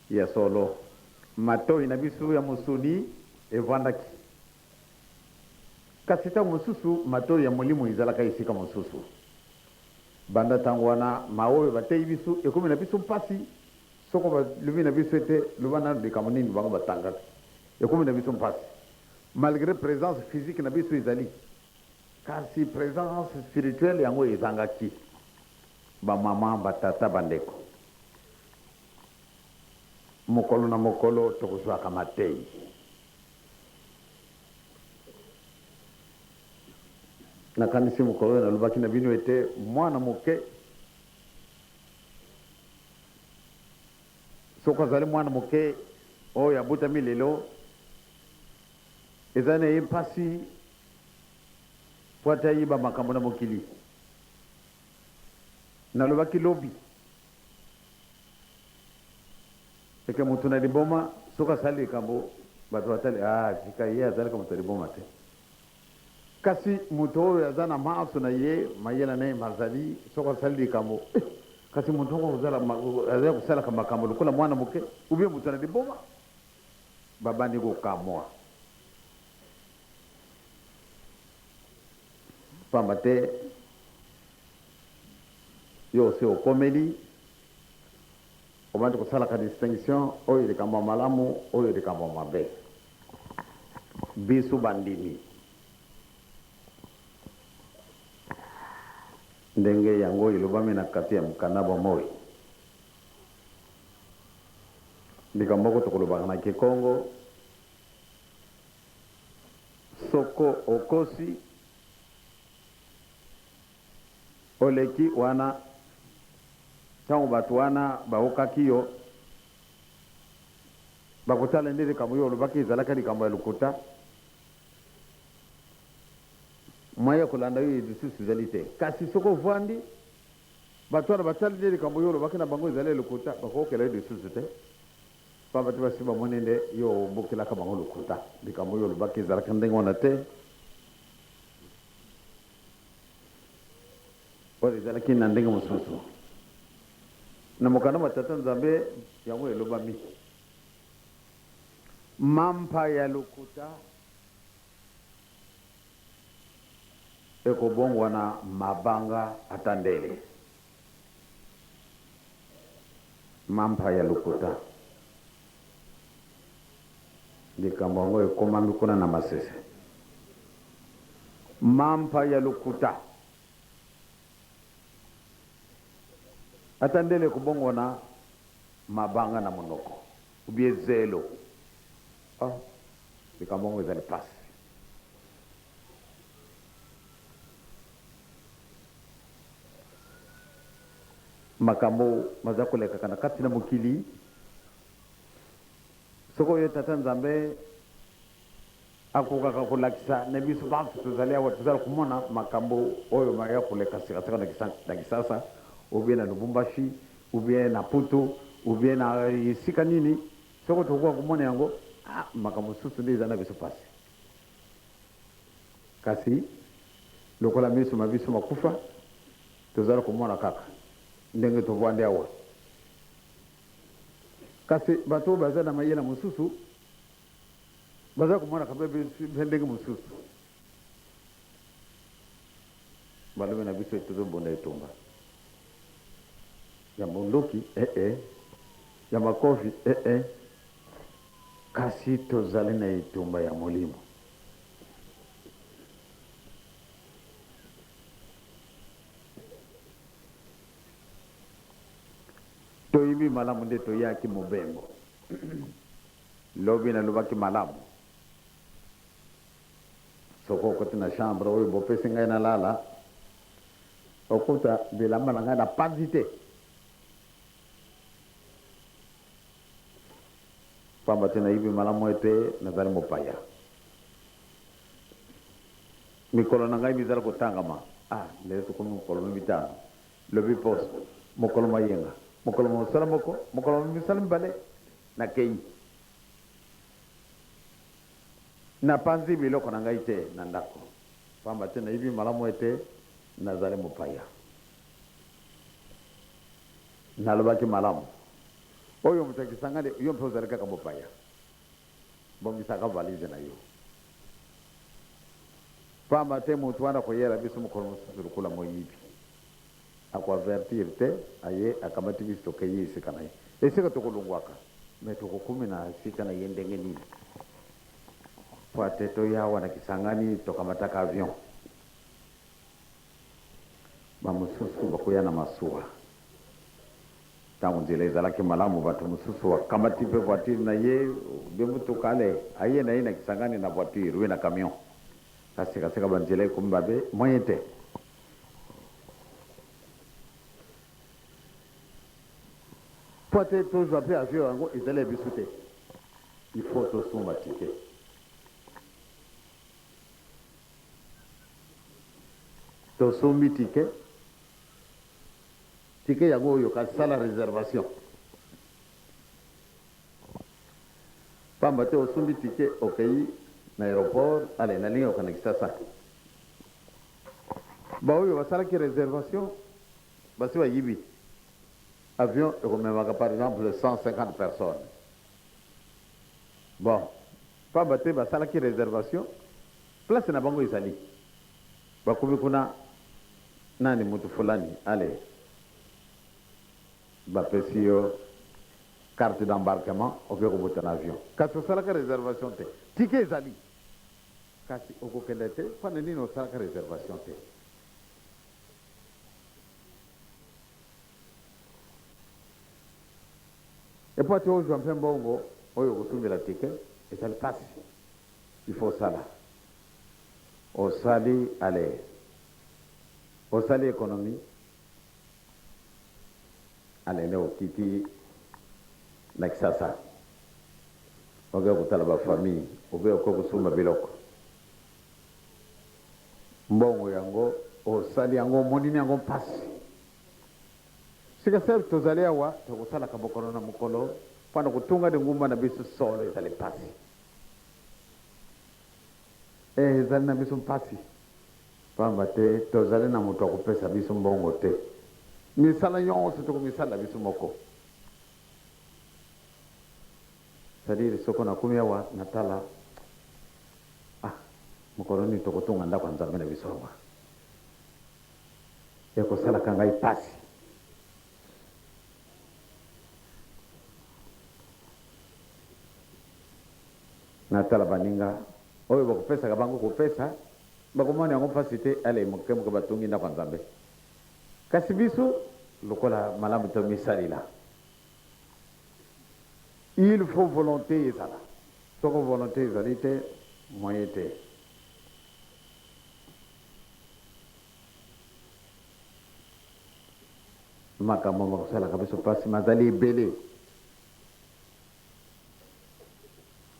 Ya solo, matoi na biso ya mosuni efandaki, kasi ntango mosusu matoi ya molimo ezalaka esika mosusu. Banda ntango wana, maoyo bateyi biso ekomi na biso mpasi soko balobi na biso ete loba nanu likambo nini bango batangaka. Ekomi na biso mpasi malgre presence physique na biso ezali. Kasi presence spirituelle yango ezangaki ba maman, ba tata, ba ndeko. Mokolo na mokolo tokozwaka mateyi. Nakanisi mokolo oyo nalobaki na bino ete mwana moke soki azali mwana moke oyo abotami lelo ezali na ye mpasi mpo ata ayeba makambo na mokili. Nalobaki lobi eke moto na liboma soki asali likambo bato batali ah, tika ye azalaka moto ya liboma te. Kasi moto oyo aza na manso na ye mayela na ye mazali soki asali likambo eh, kasi moto yango azali kosalaka makambo lokola mwana moke ubie moto na liboma babandi kokamwa. Pamba te yo osi okomeli, obandi kosalaka distinction, oyo likambo ya malamu, oyo likambo ya mabe. Bisu bandimi ndenge yango elobami na kati ya mokanda bwa moi. Likambo moko tokolobaka na kikongo. Soko okosi oleki wana tango batu wana baokaki yo bakotala nde likambo yo olobaki ezalaka likambo ya lokuta mwa ya kolanda yo lisusu ezali te kasi soko ovandi bato wana batali nde likambo yo olobaki na bango ezali ya lokuta bakokela yo lisusu te Ba batu basi ba moni nde yo obukelaka bango lokuta likambo oyo olobaki ezalaka ndenge wana te oyo ezalaki na ndenge mosusu na mokanda ma tata nzambe yango elobami mampa ya lokuta ekobongwana mabanga ata ndele Mampa ya lokuta. Likambo yango ekomami kuna na Masese. Mampa ya lokuta. Ata ndele kobongwana mabanga na monoko ou bien zelo. Ah, likambo yango ezali pasi. Makambo maza kolekaka na kati na mokili soko yo tata nzambe akokaka kolakisa na biso bantu tozali awa tozala komona makambo oyo maya koleka sikasika na kisasa obie na lubumbashi obie na putu obie na esika nini soko tokoka komona yango ah, makambo mosusu nde eza na biso pasi Kasi lokola miso ma biso makufa, tozali komona kaka ndenge tovandi awa. Kasi bato oyo bazali na mayele mosusu bazali komonaka mpe mpe ndenge mosusu. Balobi na biso ete tozobunda etumba ya bondoki ee, ya makofi ee. Kasi tozali na etumba ya molimo. Toyebi malamu nde toyaki mobembo. Lobi nalobaki malamu. Soko okoti na chambre oyo bopesi ngai nalala, okuta bilamba na ngai na panzi te. Pamba te nayebi malamu ete nazali mopaya. Mikolo na ngai mizali kotangama. Ah, lelo tokomi mokolo mwa mitano, lobi poso, mokolo mwa yenga, mokolo mwa mosala moko, mokolo mwa misala mibale. Nakeyi. Napanzi biloko na ngai te na ndako, pamba te nayebi malamu ete nazali mopaya. Nalobaki, Malamu. Oyo moto ya Kisangani, yo mpe ozali kaka mopaya. Bongisaka valise na yo. Pamba te moto wana akoyela biso mokolo mosusu lokola moyibi. Ako avertir te, aye, akamati biso, tokeyi esika na ye. Esika tokolongwaka. Mais tokokomi na esika na ye ndenge nini? Mpo ete toya awa na Kisangani, tokamataka avion. Bamosusu bakoya na masuwa. Tango nzela ezalaki malamu, bato mosusu bakamati mpe voiture na ye oubien motuka, allez, aye na ye na Kisangani na voiture oubien na camion. Na sika sika ba nzela ekomi mabe, moyen te. Mpo te tozwa mpe avion yango ezali ya biso te. Il faut tosomba ticket. Tosombi ticket ticket yango oyo kasi sala reservation pamba te osombi ticket okei na aéroport ale nalingi okana kisasa baoyo basalaki reservation basi bayibi avion ekomemaka par exemple 150 personnes bon Pamba te basalaki reservation, place na bango ezali. Bakomi kuna nani mutu fulani allez bapesi yo carte d'embarquement oke kobota na avion kasi osalaka reservation te. Ticket ezali kasi okokende te pona nini osalaka reservation te? Epuati ozua mpe mbongo oyo okotumbela ticket ezali pasi il faut osala osali aller osali economie alele okiti na kisasa oke kotala ba famille oubien oke kosumba biloko Mbongo yango osali yango omonini yango mpasi sika sel tozali awa tokosalaka mokolo na mokolo mpo na kotunga lingumba na biso solo ezali mpasi e ezali na biso mpasi mpamba te tozali na moto akopesa biso mbongo te misala nyonso tokomisalela biso moko C'est à dire soko nakomi awa natala ah mokolo nini tokotonga ndako ya Nzambe na biso awa? Ekosalaka ngai pasi. Natala baninga oyo bakopesaka bango kopesa bakomona yango mpasi te, ale moke moke batongi ndako ya Nzambe. Kasi biso lokola malamu tomisalela, Il faut volonte ezala soko volonte ezali te moyen te. Makambo makosalaka biso pasi mazali ebele.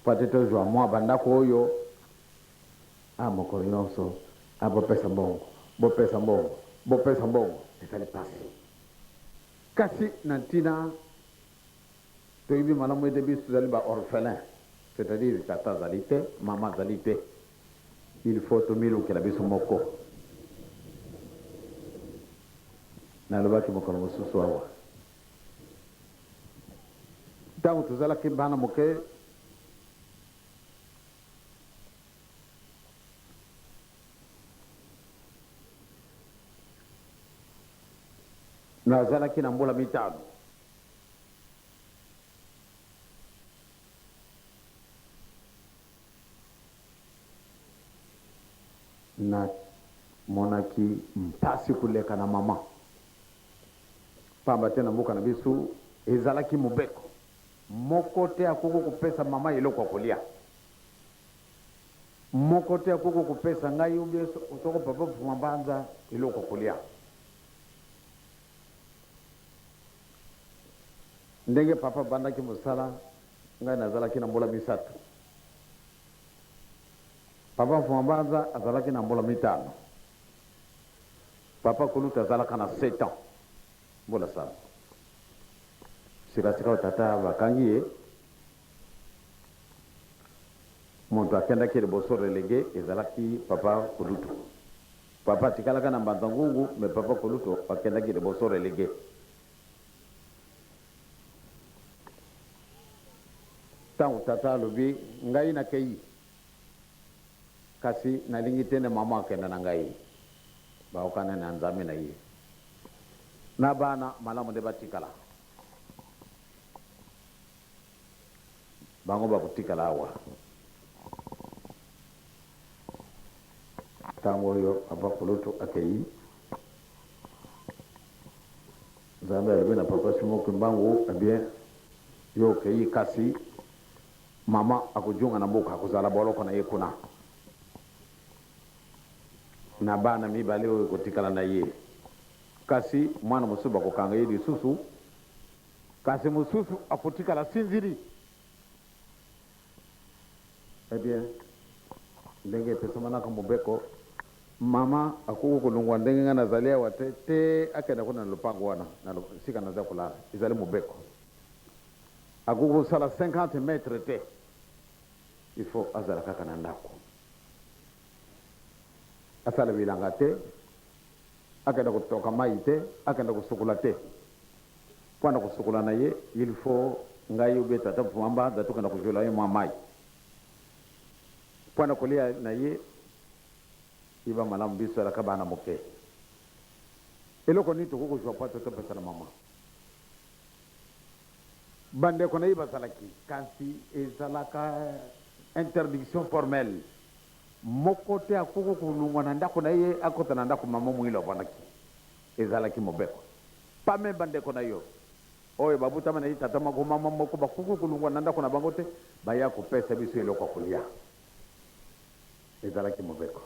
Mpo te tozwa mwa bandako oyo a mokolo nyonso a bopesa mbongo, bopesa mbongo, bopesa mbongo ezali pasi. Kasi na ntina, toyebi malamu ete biso tozali ba orphelins, c'est-à-dire tata azali te, mama azali te, il faut tomilukela biso moko. Nalobaki mokolo mosusu awa, ntango tozalaki bana moke, Nazalaki na mbula mitano. Namonaki mpasi koleka na mama, mpamba te na mboka na biso ezalaki mobeko, moko te akoki kopesa mama eloko ya kolya. Moko te akoki kopesa ngai ou bien soko papa Fuambanza eloko ya kolia. Ndenge papa abandaki mosala ngai nazalaki na mbula misato. Papa Fuambanza azalaki na mbula mitano. Papa kulutu azalaka na sept ans, mbula sambo. Sika sika oyo tata bakangi ye. Mutu akendaki liboso relegue ezalaki papa kulutu. Papa atikalaka na mbanza ngungu mais papa kulutu akendaki liboso relegue. Tangu tata alobi ngai na keyi kasi nalingi te nde maman akenda na ngai. Bayokana na nzambe na ye. Na bana malamu nde batikala. Bango bakotikala awa ntango oyo Papa Kulutu akei. Nzambe alobi na Papa Simon Kimbangu, eh bien, yo okei kasi mama akojunga na mboka, akozala boloko na ye kuna na bana mibale oyo ekotikala na ye, kasi mwana mosusu bakokanga ye lisusu. Kasi mosusu akotikala asinzili. Eh bien, ndenge epesamanaka mobeko, mama akoki kolongwa ndenge ngai nazali awa te, te akenda kuna na lopango wana na lo, esika naza kolala. Ezali mobeko. Akoki kosala 50 metre te. Il faut azala kaka na ndako. Asala bilanga te, Akenda kotoka mayi te, akenda kosokola te. Po na kosokola na ye, il faut ngai ou bien tata vua mbanza tokenda kozuela ye mua mayi. Po na kolia na ye, yeba malamu biso tozalaka bana moke. Eloko nini tokoki kozua po ata topesa na mama? Bandeko na ye bazalaki, kasi ezalaka interdiction formelle. Moko te akoki kolongwa na ndako na ye akota na ndako mama moyini avandaki. Ezalaki mobeko. Pame bandeko na yo oyo babotama na ye tata moko, mama moko, bakoki kolongwa na ndako na bango te baya kopesa biso eloko ya kolia. Ezalaki mobeko.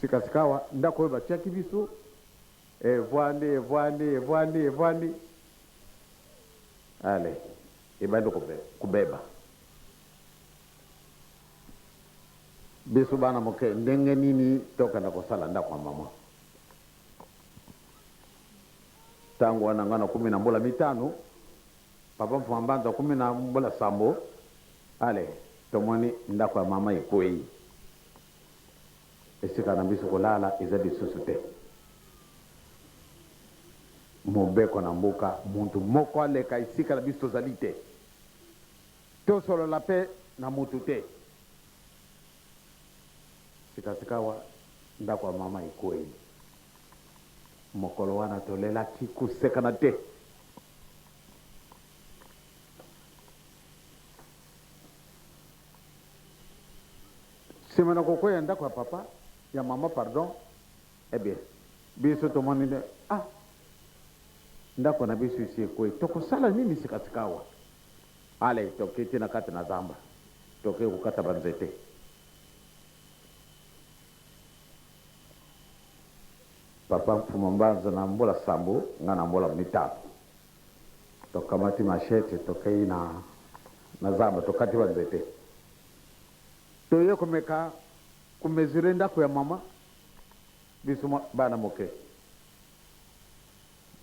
Sika-sikawa, ndako oyo batiaki biso, evwandi, evwandi, evwandi, evwandi. Allez, ebandi kobeba. Biso bana moke ndenge nini tokenda kosala ndako ya mama? Tango wana nga nakomi na mbola mitano, papa Mfuma Mbanza akomi na mbola sambo. Ale, tomoni ndako ya mama ekweyi. Esika na biso kolala eza lisusu te. Mobeko na mboka, mutu moko aleka esika na biso tozali te. Tosolola mpe na moto te. Sikasikawa, ndako ya mama ekwei. Mokolo wana tolelaki, kosekana te. Sima na kokwei ya ndako ya papa, ya mama, pardon, eh bien, biso tomoni nde, ah, ndako na biso esi ekwei. Tokosala nini sikasikawa? Allez toke ti na kati na zamba toke ko kata ba nzete. Papa Mfumu Mbanza na mbula sambo nga na mbula mitano to kamati machette to keyi na na zamba to kati ba nzete. To ye ko meka ko mesurer ndaku ya maman biso bana moke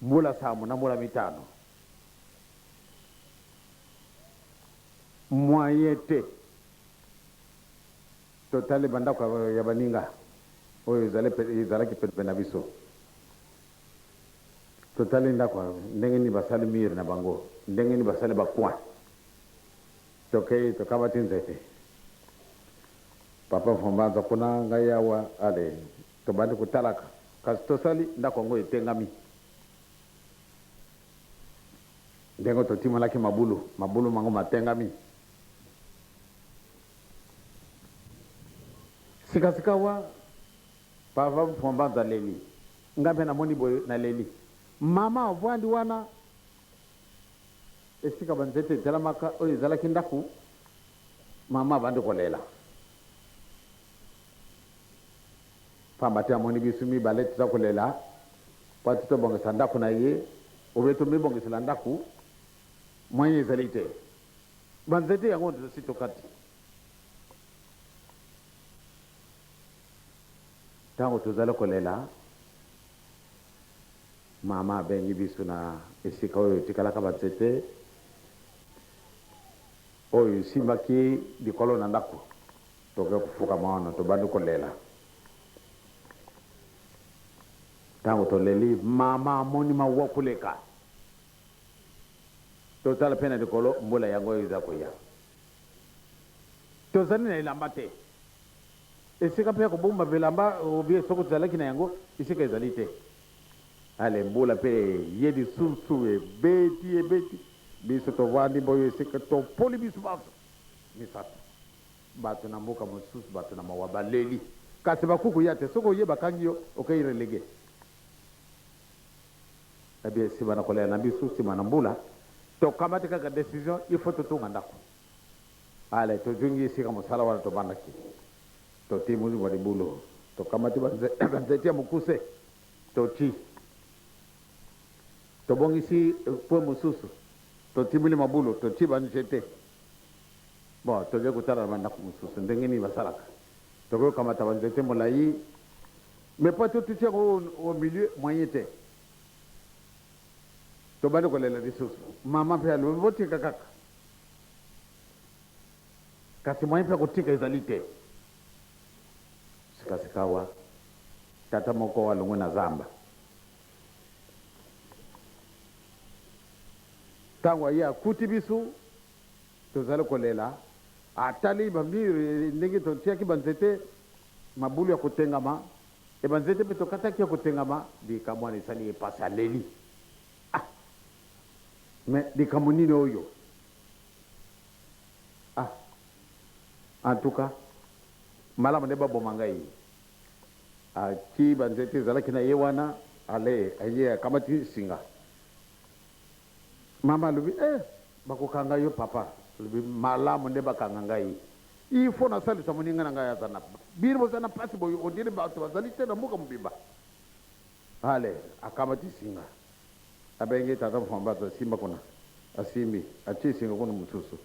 mbula sambo na mbula mitano. Moyen te totali ba ndako ya baninga oyo ezalaki penepene na biso. Totali ndako ya ndenge nini basali mur na bango, ndenge nini basali ba coin. Tokei tokabati nzete. Papa Vumbanza kuna, ngai awa, allez tobandi kotalaka. Kasi tosali ndako yango etengami. Ndenge totimolaki mabulu, mabulu mango matengami. Sika-sikawa, Papa Mfuambanza aleli. Ngai mpe namoni boye, naleli. Mama avandi wana, esika banzete etelamaka, oyo ezalaki ndako, mama abandi kolela. Pamba te amoni bisu mibale toza kolela, Mpo ete tobongisa ndako na ye, obe tomibongisela ndako, moyen ezali te. Ba nzete yango tosi tokati. Tango tozali kolela, mama abengi biso na esika oyo etikalaka ba nzete oyo esimbaki likolo na ndako. Toke kofukama wana, tobandi kolela. Tango toleli mama amoni mawa koleka totala pe na likolo mbula yango eza koya tozali na elamba te esika pe ya kobomba bilamba ou bien soki tozalaki na yango esika ezali te ale mbula pe eye lisusu ebeti ebeti biso tovandi boye esika topoli biso banso misato. Bato na mboka mosusu bato na mawa baleli kasi bakoki koya te soki oye bakangi yo okei relegue eh bien sima na kolela na biso sima na mbula tokamati kaka decision il faut totonga ndako ale tozongi esika mosala wana tobandaki toti muzi mwa libulu tokamati banzete ya mokuse toti tobongisi pwe mosusu totimoli mabulu toti banzete Bon, toke kotala na ba ndako mosusu ndenge nini basalaka. Tokoki kokamata ba nzete molayi mais pas to tuti yango au milieu, moyen te. Tobandi kolela lisusu. Mama mpe alobi botika kaka. Kasi moyen mpe ya kotika ezali te. Sika sikawa tata moko alongwe na zamba. Tango aye akuti biso tozali kolela, atali ba murs ndenge totiaki ba nzete, mabulu ya kotengama et ba nzete pe tokataki ya kotengama, likambo wana esali ye pasi aleli. Ah! Mais likambo nini oyo? Ah! En tout cas, malamu nde baboma ngai. Atii banzete ezalaki na ye wana, ale aye akamati singa. Mama alobi, Eh! Bakokanga yo, papa. Alobi, Malamu nde bakanga ngai. Il faut nasalisa moninga na ngai aza na. Bino boza na pasi boye, on dirait bato bazali te na mboka mobimba. Ale akamati singa. Abengi tata Mfwambaza, asimba kuna. Asimbi, atie singa kuna mosusu.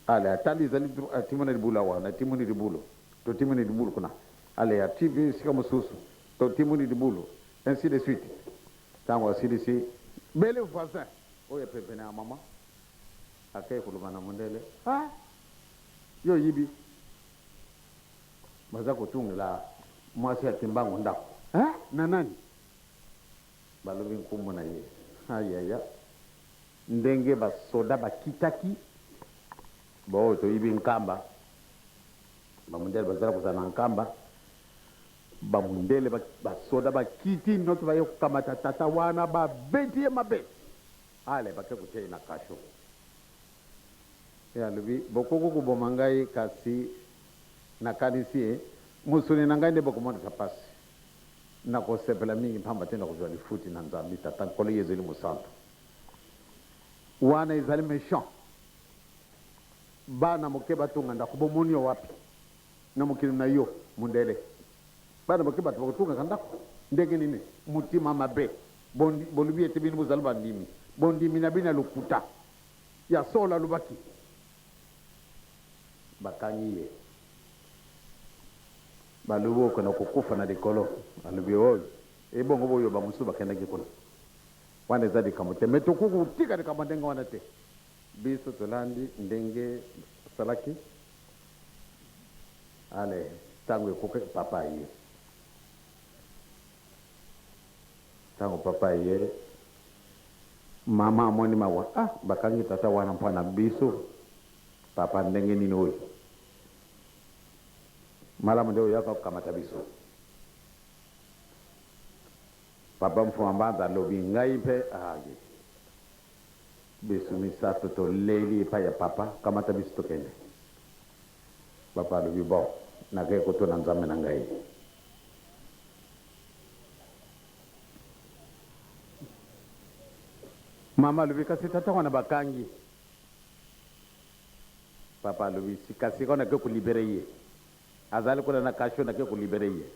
Ale atali, ezali atimona libula wana, atimoni libulo. Totimoli libulu kuna, allez ya TV esika mosusu, totimoli libulu, ainsi de suite. Tango asilisi, belle voisin oyo pembeni ya mama akeyi koloba na mondele, ah! Yo oyibi? Baza kotungela mwasi ya Kimbangu ndako. Ah! Na nani? Balobi nkombo na ye. Ah ya ya! Ndenge ba soda bakitaki. Baoyo toyibi nkamba, bamundele bazali kozala na nkamba, bamundele, basoda bakiti noki baye kokamata tata wana, babeti ye mabe, ale bake kotia ye na kasho. Ye alobi, bokoki koboma ngai, kasi nakanisi e, mosuni na ngai nde bokomonisa pasi. Nakosepela mingi mpamba te nakozwa lifuti na Nzambi Tata, Nkolo Yezu Elimo Santu. Wana ezali mechant. Bana moke batonga ndako bomoni yo wapi na mokili na yo mundele bana moke bato bakotungaka ndako ndenge nini motima mabe bolubi ete bino bozali bandimi bondimi na bino ya lokuta ya solo alobaki bakangi ye balobi okenda kokufa na likolo alobi oyo ebongo boyo bamosusu bakendaki kuna wana eza likambo te me tokoki kotika likambo ndenge wana te Biso tolandi ndenge osalaki ale tango ekoki papa aye tango papa aye maman amoni mawa ah bakangi tata wana mpo na biso papa ndenge nini oyo malamu nde oyaka kokamata biso papa mfuambanza alobi ngai mpe aye ah, Bisu misatu to leli epai ya papa kamata bisu tokende. Papa alobi bon na kei ko tuna nzambe na ngai. Mama alobi kasi tata wana ba kangi. Papa alobi sika sika na ke ko libere ye. Azali kuna na kasho na ke ko libere ye.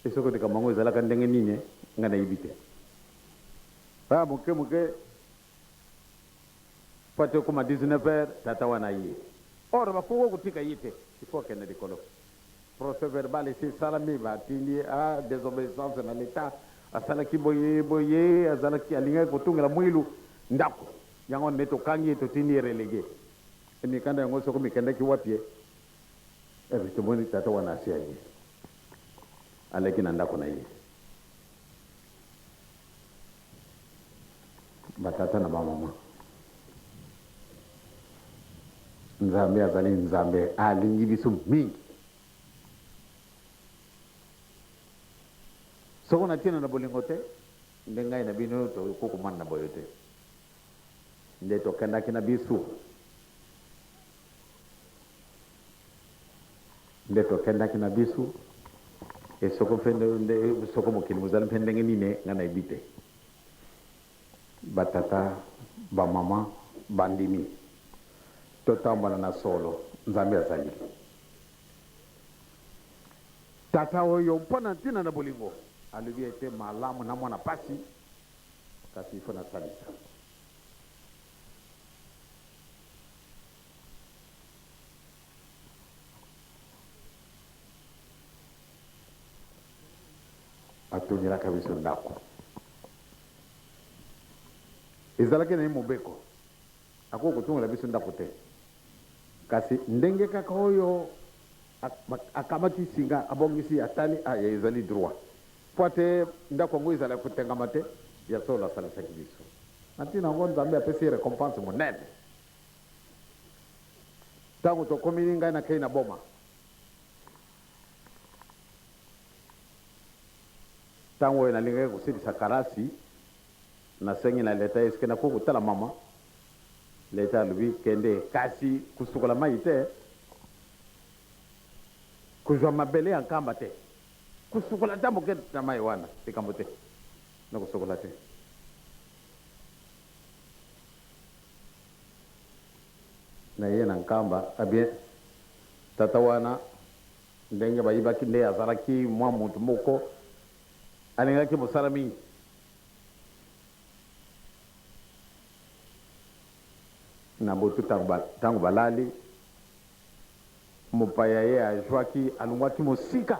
Esoko likambo yango ezalaka ndenge nini nga na yebi te. Ba moke moke po ata ekoma 19 heures tata wana aye or bakoka kotika ye te il faut akende likolo procès verbal esi esalami batindi ye a desobeissance na l'etat asalaki boye boye azalaki alingaki kotungela muilu ndaku yango nde tokangi ye totindi ye relegue mikanda yango soko mikendaki wapie eh tomoni tata wana asi aye. aleki na ndako na ye. Batata na bamama, Nzambe azali Nzambe, alingi biso mingi. Soko na ntina na bolingo te, nde ngai na bino tokokomana na boye te, nde tokendaki na biso Nde tokendaki na bisu e soko mpe nde soko mokili mozali mpe ndenge nini nga na yebi te ba tata ba mama ba ndimi to tambola na solo nzambe azali tata oyo mpo na ntina na bolingo alobi ete malamu na mwana pasi kasi ifo na salisa atongelaka biso ndako. Ezalaki na ye mobeko, akoki kotongela biso ndako te, kasi ndenge kaka oyo akamati singa, abongisi, atali, aya, ezali droit mpo te ndako yango ezala kotengama te. Ya solo, asalisaki biso na ntina yango, Nzambe apesi ye recompense monene. Tango tokomini ngai na keyi na boma tango oyo nalingaki kosilisa kalasi na sengi na leta eske na ko kotala mama leta alobi kende kasi kosukola mayi te kozwa mabele ya nkamba te kosukola ata moke na mayi wana likambo te na kosukola te naye na nkamba eh bien tata wana ndenge bayibaki nde azalaki mwa mutu moko alingaki mosala mingi na butu tangu balali mopaya ye ajuaki alunguaki mosika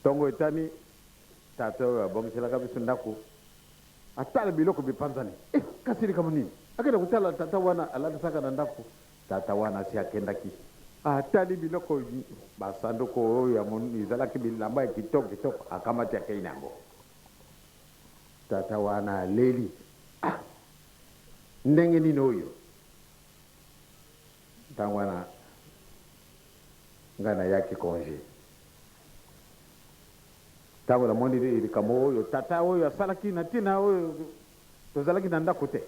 Ntongo etani, tata oyo abongiselaka biso ndako atala biloko bipanzani. Eh, kasi likambo nini? Akenda kotala tata wana alalisaka na ndako. Tata wana asi akendaki. Atali biloko, basanduku oyo ezalaki bilamba ya kitoko kitoko, akamati akei na yango. Tata wana aleli. Ah, ndenge nini oyo? Ntango wana Ngai nayaki conge tango namoni likambo oyo tata oyo asalaki na tina oyo tozalaki na ndako te.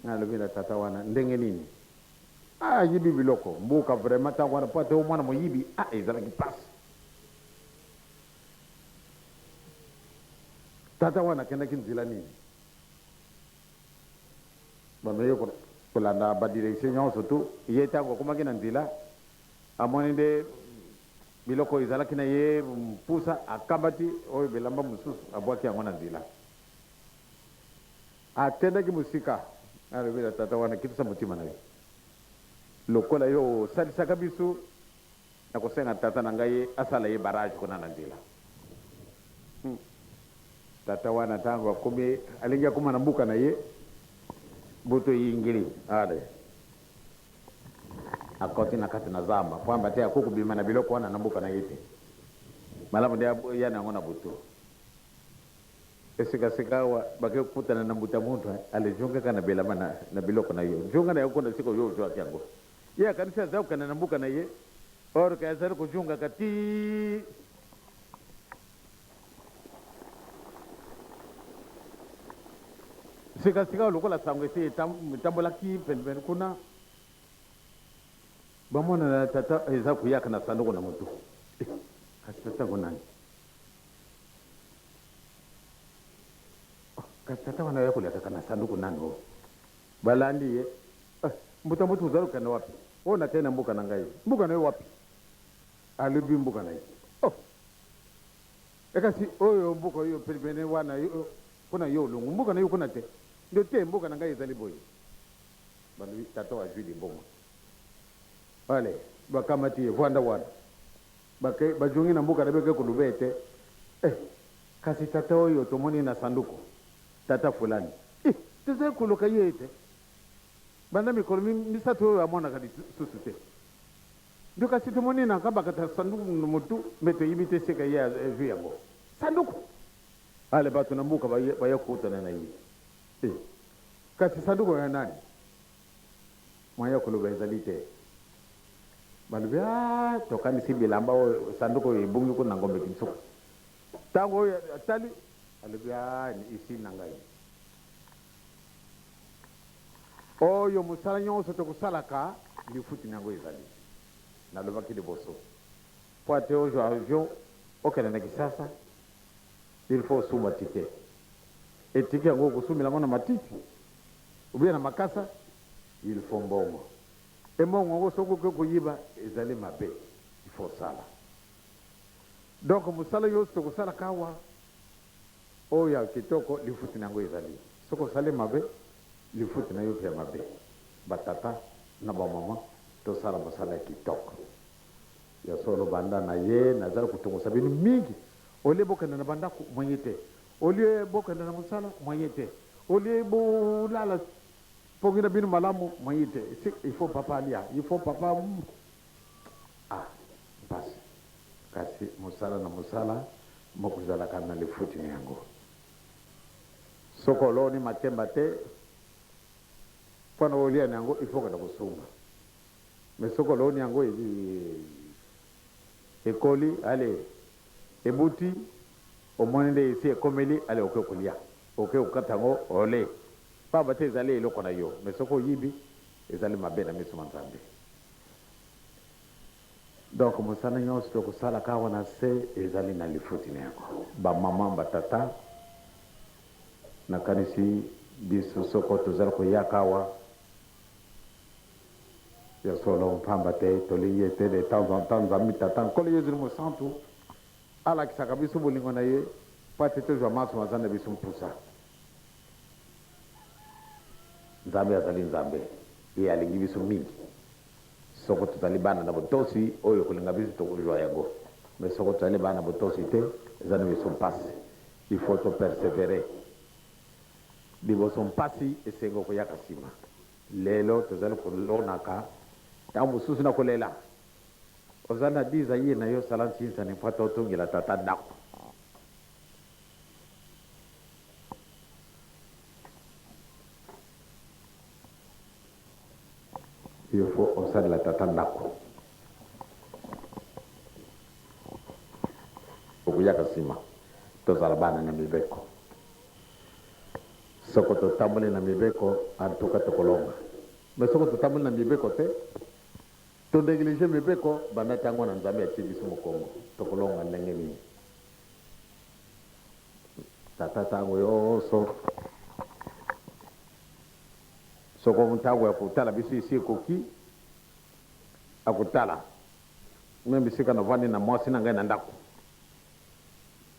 Nalobi na tata wana ndenge nini ah, ayibi biloko mbuka vraiment tango wana po ata yo mwana moyibi ah, ezalaki pasi. Tata wana akendaki nzela nini? Bameki kolanda ba directions nionso tout, ye tango akomaki na nzela amoni nde biloko oyo ezalaki na ye mpusa, akamati oyo bilamba mosusu abwaki yango na nzela, akendaki mosika. Alobi na tata wana, kitisa motima na yo, lokola yo osalisaka biso. Nakosenga tata na ngai asala ye barrage kuna na nzela. Hum. Tata wana tango akomi, alingi akoma na mboka na ye, butu eyingeli. Allez. Akoti na kati na zamba, pamba te akoki kobima na biloko wana na mboka na ye te. Malamu nde aya na yango na butu. Pe sika sika awa, bakei kokutana na mbuta muntu. Allez, jonga kaka na belama na, na biloko na yo. Jonga na yango kuna esika oyo ozuaki yango. Ye akanisi aza kokende na mboka na ye or que azali kojungaka tii. Sika sika lokola sango esi etambolaki pene pene kuna, bamona na tata eza koyaka na sanduku na motu. Eh, kasi tata yango nani? Oh, kasi tata wana ya kolekaka na sanduku nani oyo? Oh? Balandi ye. Eh, mbuta mbuta ozali kokende wapi? Oh, nakeyi na mboka na ngai. Mboka na yo wapi? Alobi mboka na ye. Oh! Eh, kasi oyo mboka oyo penepene wana yo, kuna yo olongwi mboka na yo kuna te? Nde te, mboka na ngai ezali boye. Balobi tata oyo azwi liboma. Allez, bakamati ye, vanda wana. Bake, bazongi na mboka na bake koloba ete, Eh, kasi tata oyo tomoni na sanduku, tata fulani. Eh, tozali koluka ye te banda mikolo mi, misato oyo, amonaka lisusu te. Nde kasi tomoni na kabakata sanduku na motu, mpe toyebi te esika ye azwi yango. Sanduku! Ale, bato na mboka baye, baya kokutana na ye. Eh, kasi sanduku ya nani? Moyen ya koloba ezali te. Balobi, Aah, tokanisi bilamba oyo, sanduku oyo ebungi kuna na Ngombe-Kinsuka. Tango oyo atali, alobi, Aah, ni usine na ngai. Oyo mosala nyonso tokosalaka, lifuti na yango ezali. Nalobaki liboso, mpo ete ozwa avion okende na Kisasa, il faut osumba ticket. Et ticket yango, okosumela yango na matiti? ou bien na makasa il faut mbongo et mbongo yango soki oke koyiba ezali mabe il faut osala donc mosala yo soki osala kawa oyo ya kitoko lifuti na yango ezali soki osali mabe lifuti na yo pe ya mabe batata na bamama tosala mosala ya kitoko ya solo banda na ye nazali kotongosa bino mingi olie bokende na bandako moye te Au lieu bokende na musala, moyen te. Au lieu bolala pongi na bino malamu, moyen te. Si, il faut papa alia, il faut papa Ah, mpasi. Kasi mosala na mosala mokozalaka na lifuti na yango. Soki oloni makemba te, mpo na olia na yango, il faut okenda kosumba. Mais soki oloni yango, ekoli, allez. Ebuti omoni nde esi ekomeli ale oke kolia oke kokata yango ole pamba te ezali eloko na yo mais soki oyibi ezali mabe na miso ma Nzambe donc mosala nionso tokosalaka awa na se ezali na lifuti na yango ba maman ba tata nakanisi biso soko tozali koyaka awa Ya solo, mpamba te tolingi ete de temps en temps Nzambe Tata, Nkolo Yezu ni Mosantu alakisaka biso bolingo na ye mpo ete tozwa manso mazali na biso mposa. Nzambe azali Nzambe, ye alingi biso mingi. Soko tozali bana na botosi, oyo ekolinga biso tokozwa yango. Mais soko tozali bana na botosi te, ezali na biso mpasi. Il faut to perseverer liboso mpasi esengo koyaka sima. Lelo tozali kolonaka tango mosusu na kolela. Ozali na desire na yo sala nsinsani mpo ata otongela tata ndako. Il faut osalela tata ndako. Okuyaka nsima tozala bana na mibeko. Soko totamboli na mibeko en tout cas tokolonga mais soko totamboli na mibeko te to negliger mibeko banda tango wana nzambe atie biso mokongo tokolonga ndenge nini tata tango yoso soko ntango ya kotala biso esi ekoki akotala me bisika navandi na mwasi na ngai na ndako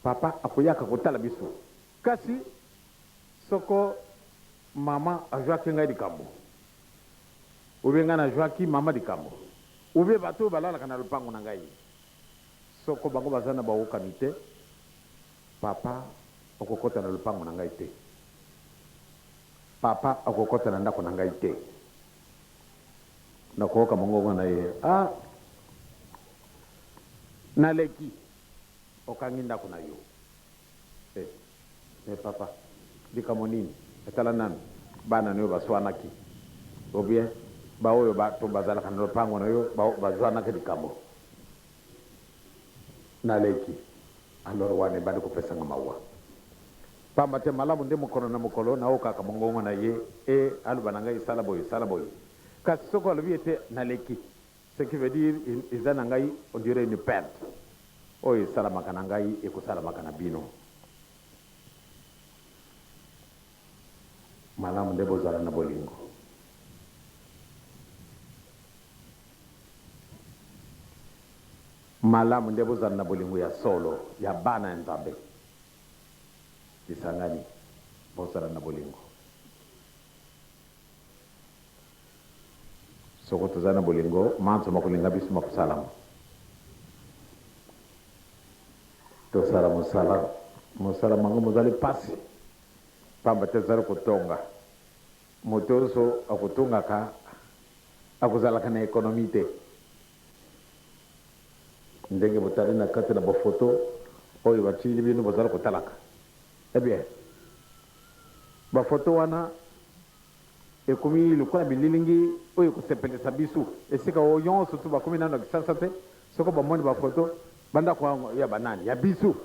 papa akoyaka kotala biso Kasi soko maman ajuaki ngai likambo ou bien ngai najuaki maman likambo ou bien bato oyo balalaka na lopango na ngai soko bango baza na baokani te, papa okokota na lopango na ngai te, papa okokota na ndako na ngai te. Nakooka mongongo na ye, ah naleki, okangi ndako na yo. Eh mais papa likambo nini tala nanu bana nayo baswanaki ou bien ba oyo bato bazalaka na lopango nayo bazwanaki likambo na leki alors wana ebandi kopesa nga mawa pamba te malamu nde mokolo na mokolo nayokaka mongongo naye et aloba na ngai sala boye sala boye kasi soki alobi ete na leki Ce qui veut dire eza na ngai on dirait une perte oyo esalamaka na ngai ekosalamaka na bino. Malamu nde bozala na bolingo. Malamu nde bozala na bolingo ya solo ya bana ya Nzambe. Lisangani, bozala na bolingo. Soko tozali na bolingo, manso makolinga biso makosalama. Tosala mosala. Mosala mango mozali pasi, pamba te tozali kotonga. Moto onso akotongaka akozalaka na ekonomi te. Ndenge botali na kati na bofoto oyo batili bino bozali kotalaka, eh bien, bafoto wana Ekomi lokola bililingi oyo ekosepelisa bisu esika oyo yon susu bakomi nanu na kisasa te soko bamoni ba photo bandako yango ya banani ya bisu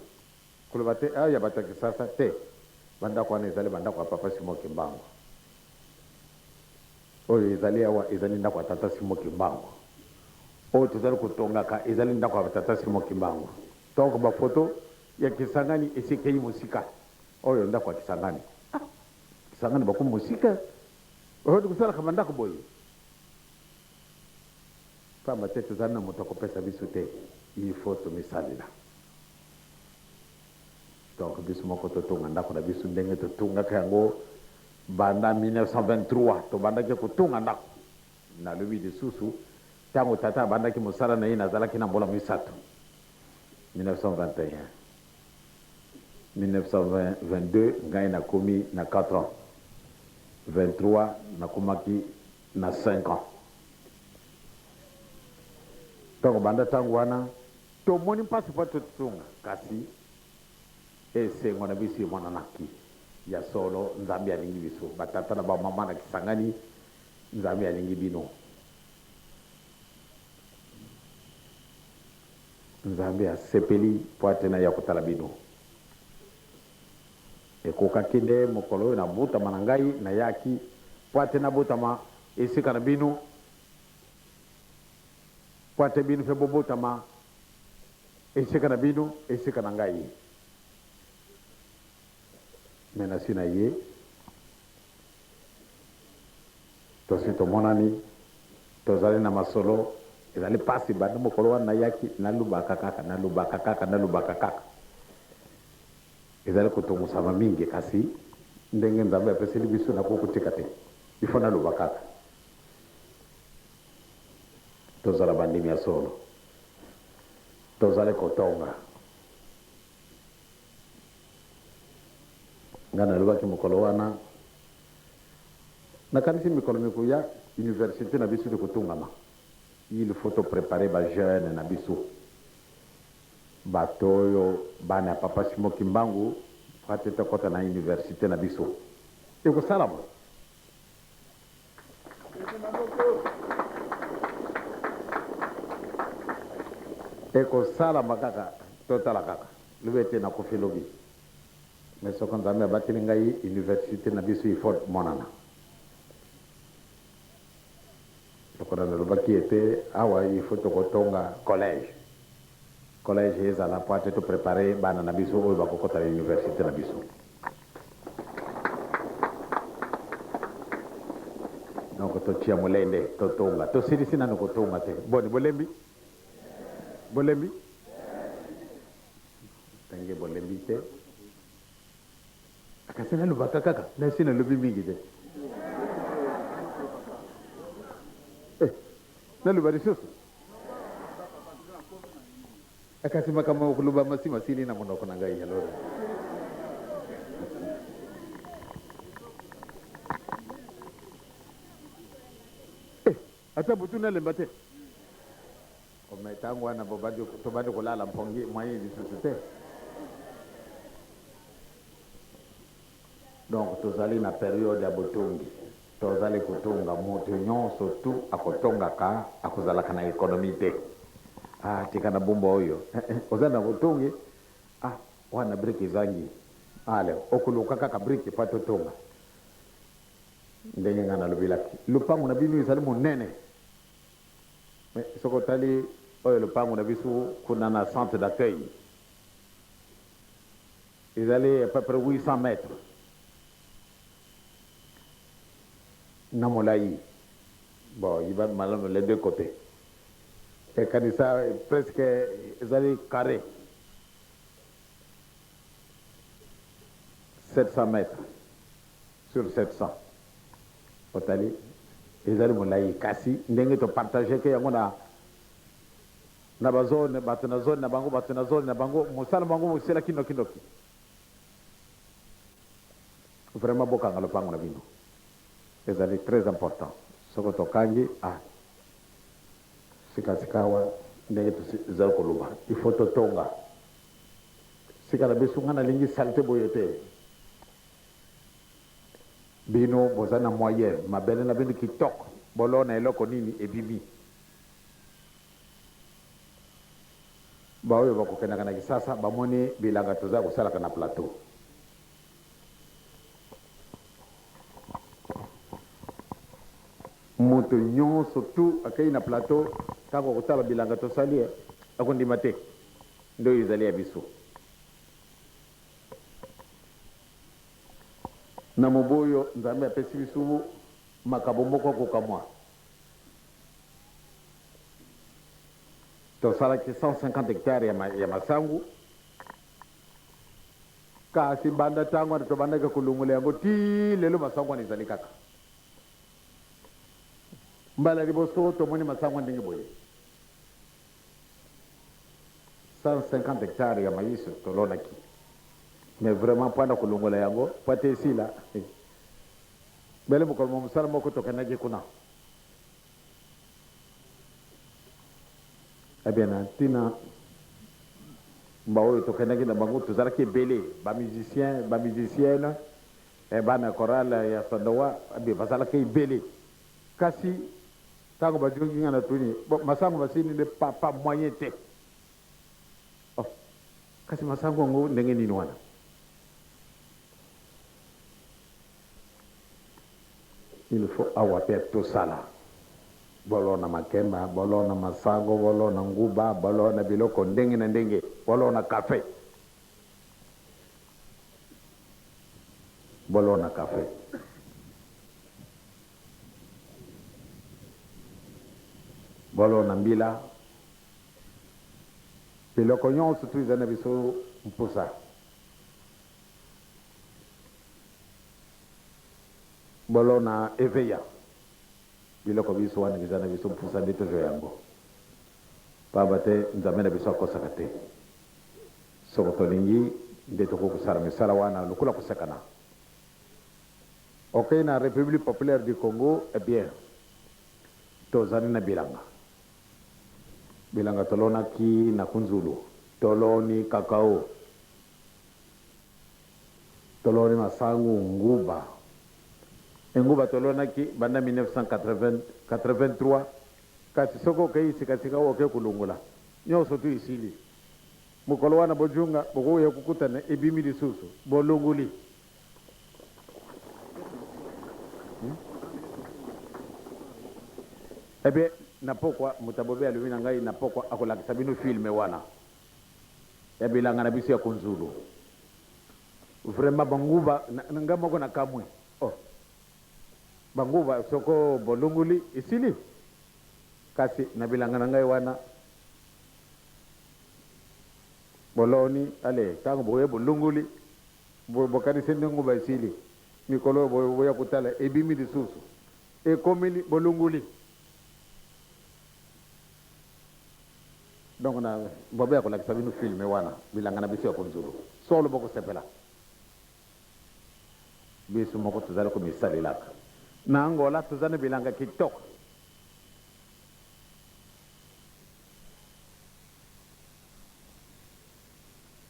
koloba te ya bato ya kisasa te bandako wana ezali bandako ya papa simo kimbangu oyo ezali awa ezali ndako ya tata simo kimbangu oyo tozali kotongaka ezali ndako ya tata simo kimbangu donc ba photo ya kisangani esi ekeyi mosika oyo ndako ya kisangani Sangani bakomi mosika oyo tokosalaka bandako boye pamba te tozali na moto akopesa biso te il faut tomisalela donc biso moko totonga ndako na biso ndenge totungaka yango banda 1923 tobandaki kotonga ndako nalobi lisusu ntango tata abandaki mosala na ye nazalaki na mbula misato 1921 1922 ngai na komi na quatre ans 23 na komaki na cinq ans donc banda tango wana to moni mpasi mpo to sunga kasi esengo na biso emonanaki ya solo nzambe alingi biso ba tata na ba mama na kisangani nzambe alingi bino Nzambe asepeli mpo ete naya kotala bino. Ekokaki nde mokolo oyo nabotama na ngai, nayaki mpo ete nabotama esika na bino, mpo ete bino mpe bobotama esika na bino, esika na ngai. Mai nasi naye. Tosi tomonani, tozali na masolo. Ezali pasi banda mokolo wana nayaki, nalobaka kaka, nalobaka kaka, nalobaka kaka. Ezali kotungusama mingi, kasi ndenge Nzambe apeseli biso, nakoki kotika te. Il faut naloba kaka. Tozala bandimi ya solo. Tozali kotonga. Ngai nalobaki mokolo wana, Nakanisi mikolo mikoya, universite na biso ekotongama. Il faut to preparer ba jeunes na biso. Bato oyo, bana ya Papa Simon Kimbangu, fati tokota na universite na biso. Ekosalama. Ekosalama kaka totala kaka lobi ete na kufi lobi mais soko nzambe abateli ngai universite na biso il faut emonana lokola nalobaki ete awa il faut tokotonga collège collège ezala po ate to prepare bana na biso oyo bakokota na universite na biso noko totia molende totonga tosilisi nano kotonga te boni bolembi bolembi tange bolembi te kasi nalobaka kaka nasi nalobi mingi te eh, naloba lisusu Eh kasi makambo ya koloba masi masili na monoko na ngai alors. Eh, ata butu nalemba te. Ome tango wana bobandi tobandi kolala mpongi moyen lisusu te. Donc tozali na periode ya botongi tozali kotonga mutu nionso tout akotongaka akozalaka na economie te ah tika na bumba oyo eh eh oza na botongi ah wana brique ezangi ale okoluka kaka brique epa totonga ndenge nga nalobelaki lopango na bino ezali monene mais soki otali oyo lopango na biso kuna na centre d'accueil Ezali à peu près 800 mètres na molayi. Bon, yeba malamu les deux cotes. Et kanisa presque ezali carre 700 mètres sur 700. Otali? Ezali molayi kasi ndenge to partageke yango na Na ba zone, bato na zone na bango, bato na zone na bango, mosala na bango mosilaki noki noki. Vraiment bokanga lopango na bino. Ezali très important. Soko tokangi, ah. Sika sikawa ndenge tozali koloba, il faut totonga. Sika na biso, ngai nalingi salete boye te. Bino bozali na moyen, mabele na bino kitoko, bolona eloko nini ebimi. Ba oyo bako kendaka na kisasa ba moni bilanga toza kosalaka na plateau. Moto nyoso tout akeyi na plateau tango akotala bilanga tosali eh ako ndima te nde oyo ezali ya biso. Na mobu oyo nzambe apesi bisubu makabo moko ya kokamua. tosalaki 150 hectare ya, ma, ya masangu kasi banda ntango wana tobandaki kolongola yango ti lelo masangu wana ezali kaka mbala liboso tomoni masangu ndenge boye 150 hectare ya mayiso tolonaki mais vraiment mpo na kolongola yango mpo ete esila Mbele mokolo mwa mosala moko tokendaki kuna. Eh bien, na ntina baoyo tokendaki na bango, tozalaki ebele, ba musiciens, ba musiciennes, eh, bana ya chorale ya Sandawa, eh bien, bazalaki ebele. Kasi, ntango bajoki ngai, natuni, Bo, masango masili nde? Papa, moyen te. Oh, kasi masango yango ndenge nini wana? Il faut awa pe tosala bolo na makemba, bolo na masango, bolo na nguba, bolo na biloko ndenge na ndenge, bolo na cafe, bolo na cafe. Bolo na mbila, biloko nyonso tu ezali na biso mposa Bolona eveya biloko binso wana biza na biso mpusa nde tozua yango pamba te Nzambe na biso akosaka te. Soko tolingi nde tokoki kosala misala wana lokola koseka na okei na Republique populaire du Congo eh bien tozali na bilanga bilanga tolonaki na kunzulu toloni cacao. Toloni masangu nguba e nguba tolonaki banda 1983 kasi soki okeyi sika sika oke kulungola nioso tu esili mukolo wana bojunga bokoya kokutana ebimi lisusu bolunguli ebien na pokwa muta bobe alobi na ngai na pokwa akolakisa bino film wana. ya bilanga na biso ya konzulu vraiment ba nguba nga moko na kamue oh ba nguba soko bolunguli esili kasi na bilanga na ngai wana boloni ale tango boye bolunguli bokanisi nde nguba esili mikolo oyo boya kotala ebimi lisusu ekomeli bolunguli Donc na bobe ya kolakisa bino film wana bilanga na biso ya konzulu solo bokosepela biso moko tozali komisalelaka na angola toza na bilanga kitoko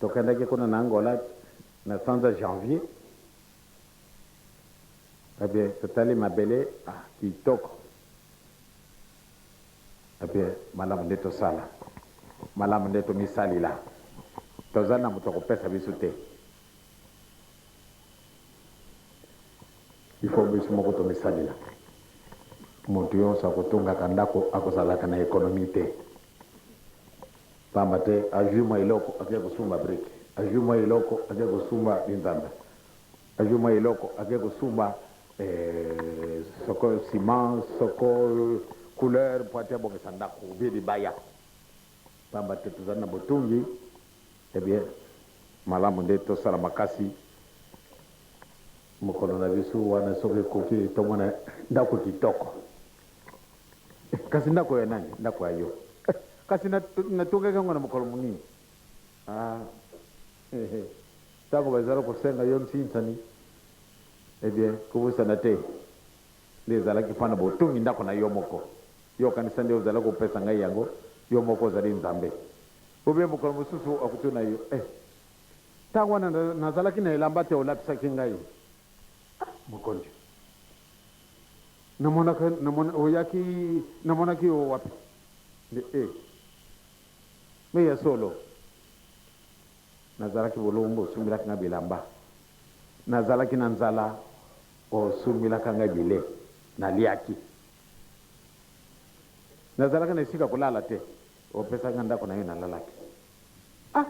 tokendaki kuna na angola na sanza janvier ebie totali mabele ah, kitoko Epuis malamu nde tosala, malamu nde tomisalela, tozali na moto akopesa biso te, il faut biso moko tomisalela. Moto yonso akotongaka ndako akozalaka na economie te, pamba te azui mwa eloko ake kosumba brique, azui mwa eloko ake kosumba linzanza. Azui mwa eloko ake kosumba eeh soko ciment soko couleur po ati abongisa ndaku ou bien libaya pamba te tozali na botungi eh bien malamu nde tosala makasi mokolo na biso wana soki ekoki tomona ndaku kitoko eh, kasi ndaku ya nani ndaku ya yo eh, kasi natongaki yango na mokolo monini ah. Hehe tango bazali kosenga yo nsinsani eh bien kobosana te nde ezalaki mpo na botongi ndako na yo moko yo okanisa nde ozali kopesa ngai yango yo moko ozali nzambe ou bien mokolo mosusu akotuna yo eh tango wana nazalaki na elamba te olapisaki ngai ah mokonzi namonaka oyaki namonaki yo wapi nde eh Mais ya solo nazalaki bolumbu osumbelaki nga bilamba nazalaki na nzala osumbelaka nga bile naliaki nazalaka na esika kolala te opesaka nga ndako nayo nalalaki ah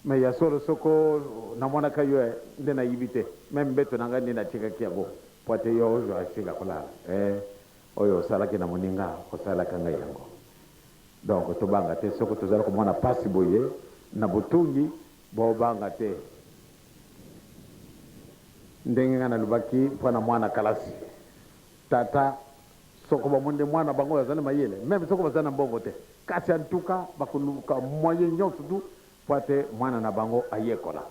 mais ya solo soko namonaka yo eh, nde nayibi te meme mbeto na nga nde natikaki yango po ete yo ozwa esika kolala eh oyo osalaki na moninga osalaka nga yango Donc tobanga te soki tozali komona pasi boye na botungi bobanga te ndenge nga nalobaki mpo na mwana kalasi tata soko bamoni nde mwana bango oyo azali mayele meme soko bazali na mbongo te kasi antuka bakoluka moyen nyonso tu mpo ate mwana na bango ayekola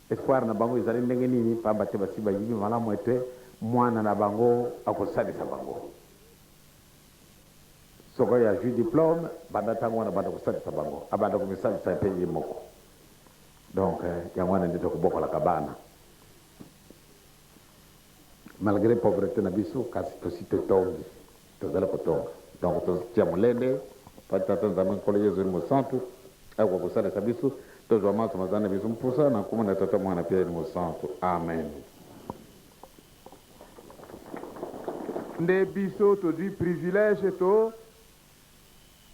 espoir na bango ezali ndenge nini pamba te basi bayibi malamu ete mwana na bango akosalisa bango Soko ye azui diplome banda tango wana abanda kosalisa bango abanda komisalisa pe ye moko donc yango wana nde tokobokolaka bana malgre pauvrete na biso kasi tosi totongi tozali kotonga donc totia molende po tata nzambe nkolo yezu mosantu akoka kosalisa biso tozwa manso mazali na biso mposa na nkombo na tata mwana pe mosantu amen Nde biso tozui privilege to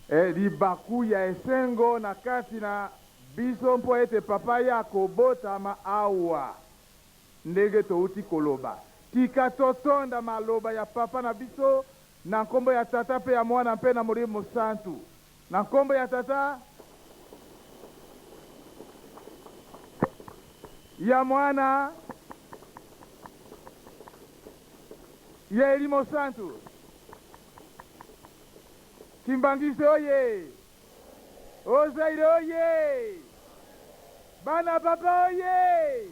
eh, libaku ya esengo na kati na biso mpo ete Papa ye akobotama awa. Ndenge touti koloba, tika totonda maloba ya Papa na biso na nkombo ya Tata mpe ya Mwana mpe na Molimo Mosantu. Na nkombo ya Tata, ya Mwana, ya elimo santu, Kimbanguiste oye! O Zaire oye! Bana papa oye!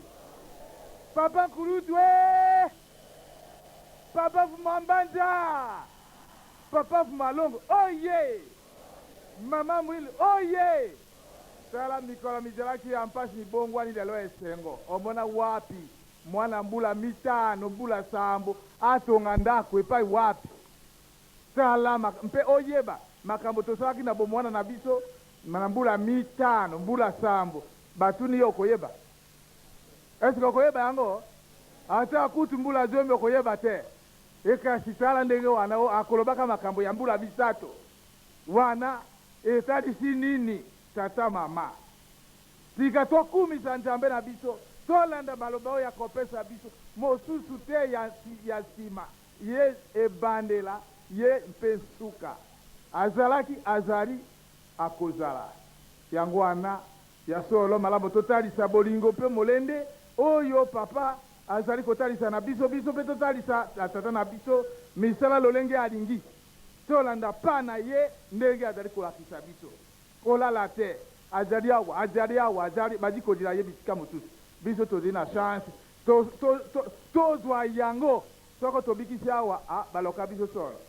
Papa Nkulutu ee! Papa Vuma Mbanza! Papa Vmalongo oyee! Mama Mwil oyee! Tala mikolo mizalaki ya mpasi mibongwani lelo esengo omona wapi? Mwana mbula mitano, mbula sambo atonga ndako epai wapi? Tala mak mpe oyeba makambo tosalaki na bomwana na biso na mbula mitano, mbula sambo. Batuni yo okoyeba? Est-ce que okoyeba yango? Ata kutu mbula zomi okoyeba te. E kasi tala ndenge wana o, akolobaka makambo ya mbula misato wana etalisi nini? Tata, mama, tika tokumisa Nzambe na biso, tolanda maloba oyo akopesa biso, mosusu te ya, ya nsima, Ye, ebandela, Ye, mpe nsuka. Azalaki, azali, akozala. Yango wana, ya solo, malamu totalisa bolingo mpe molende oyo Papa Azali kotalisa na biso, biso mpe totalisa na Tata na biso misala lolenge Alingi. Tolanda pas na Ye ndenge Azali kolakisa biso. Kolala te. Azali awa, Azali awa, Azali, bazli kozila Ye bisika mosusu. Biso tozli na chance to, to, to, tozua yango. Soko tobikisi awa, a, baloka biso solo.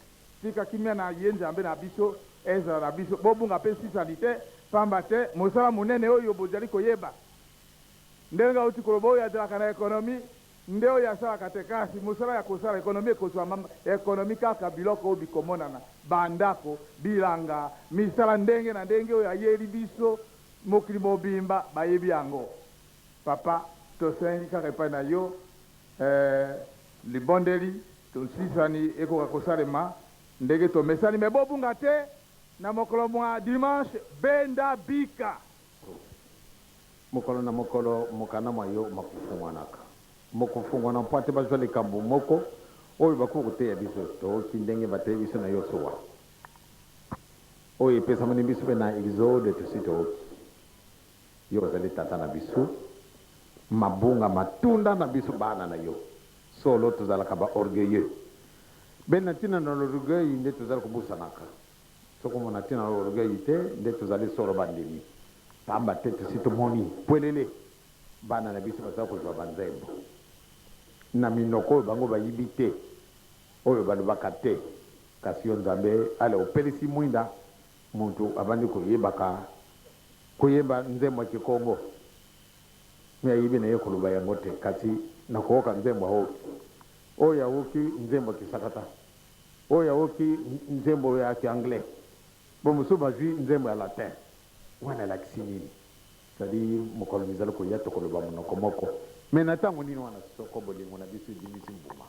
Tika kimia na Ye Nzambe na biso ezala na biso. Bobunga mpe nsisani te, mpamba te mosala monene oyo bozali koyeba. Ndenge nauti koloba, oyo azalaka na economy nde oyo asalaka te kasi mosala ya kosala economy ekozuama economy kaka biloko oyo bikomonana, ba ndako, bilanga, misala ndenge na ndenge oyo ayeli biso mokili mobimba bayebi yango. Papa tosengi kaka epai na yo eh, libondeli tosisani ekoka kosalema ndenge tomesani mais bobunga te na mokolo mua dimanche benda bika. Mokolo na mokolo mokanda mwa yo makofungwanaka. Mokofungwana mpo ete bazwa likambo moko oyo bakoki koteya biso. Tooki ndenge bateyi biso na Yosua, oyo epesamani biso mpe na Exode. Tosi tooki yo, ozali Tata na biso. Mabunga matunda na biso bana na yo. Solo, tozalaka ba orgueilleux. Bende na ntina na l'orgueil nde tozali kobusanaka. Soki omona ntina ya orgueil te, nde tozali solo bandimi, pamba te tosi tomoni pwelele bana na biso bazali kozwa banzembo na minoko oyo bango bayibi te, oyo balobaka te. Kasi yo Nzambe, ale opelisi mwinda mutu abandi koyebaka koyemba nzembo ya kikongo mais ayebi na ye koloba yango te, kasi na kooka nzembo aoki, oyo aoki nzembo kisakata. Oyo aoki nzembo ya ki anglais bo mosusu bazui nzembo ya latin wana elakisi nini? Ça dit mokolo mizali koya tokoloba monoko moko mais na tango nini wana soko bolingo na biso ebimisi mbuma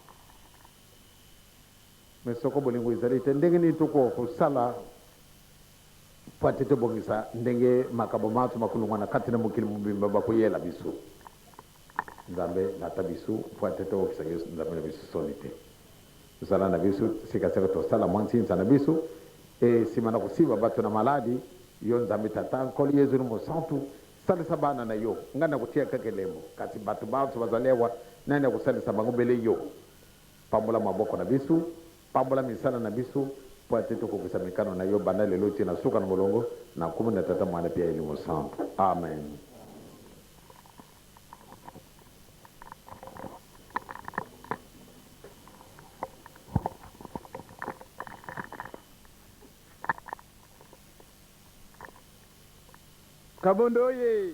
mais soko bolingo ezali te ndenge nini tokoka kosala po ete tobongisa ndenge makambo manso makolongwana kati na mokili mobimba bakoyela biso? Nzambe lata bisu pua te toyokisa yo Nzambe na bisu soni te. Zala na bisu sika seko tosala mua nsinsa na bisu e sima na kosiba batu na maladi. Yo Nzambe Tata Nkolo Yezu ni Mosantu salisa bana na yo. Ngai na kotiya kaka elembo kasi batu banso bazali awa nani akosalisa bango bele yo. Pambola maboko na bisu. Pambola misala na biso, mpo ete tokokisa mikano na yo banda lelo tii na suka na molongo, na nkombo na Tata, Mwana mpe ya Elimo Santu. Amen. Kabondo oyee!